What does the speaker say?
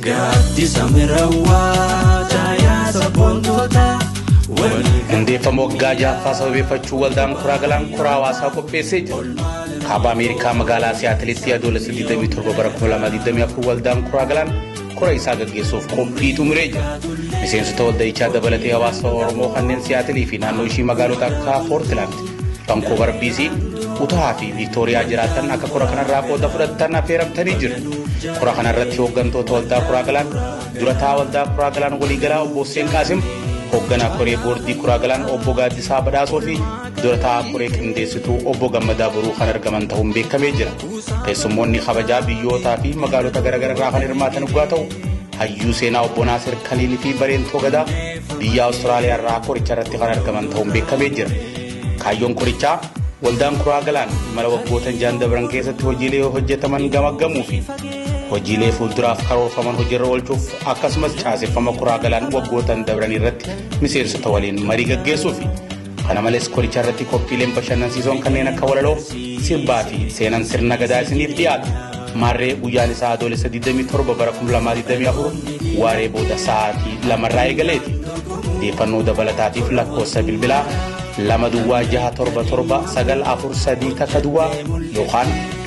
Gaaddisa mirawwaa caayaa sabboontootaa walii Hundeeffama waggaa ja'affaa sababeeffachuu waldaan kuraa galaan kuraa hawaasaa qopheessee jira. Kaaba Ameerikaa magaalaa Siyaatilitti adoolessa 27 bara 2024 waldaan kuraa galaan kora isaa gaggeessuuf qophii xumuree jira. Miseensota walda'ichaa dabalatee hawaasa Oromoo kanneen Siyaatilii fi naannoo ishii magaalota akka Poortilaand, Vankoovar BC, Utahaa fi Viiktooriyaa jiraatan akka kora kanarraa qooda fudhatan affeeramtanii jiru. Kora kanarratti hooggantoota waldaa Kuraa Galaan, durataa waldaa Kuraa Galaan waliigalaa obbo Hussein Qaasim, hoogganaa koree boordii Kuraa Galaan obbo Gaaddisaa Badhaasoo fi durataa koree qindeessituu obbo Gammadaa Boruu kan argaman ta'uun beekamee jira. Keessummoonni kabajaa biyyootaa fi magaalota garaagaraa irraa kan hirmaatan dhugaa ta'u hayyuu seenaa obbo Naasir Kaliil fi Bareentoo Gadaa biyya Awustiraaliyaa irraa qoricha irratti kan argaman ta'uun beekamee jira. Kaayyoon qorichaa waldaan kuraa galaan imala waggootan jaan dabran keessatti hojiilee hojjetaman gamaggamuu fi hojiilee fuulduraaf karoorfaman hojiirra oolchuuf akkasumas caaseffama kuraa galaan waggootan dabran irratti miseensota waliin marii gaggeessuufi. Kana malees koricha irratti qophiileen bashannansiisoon kanneen akka walaloo, sirbaa fi seenaan sirna gadaa isiniif dhiyaatu. Maarree guyyaan isaa adoolessa 27 bara 2024 waaree booda sa'aatii lamarraa eegaleeti. Odeeffannoo dabalataatiif lakkoofsa bilbilaa lama duwwaa jaha torba torba sagal afur sadii takka duwwaa yookaan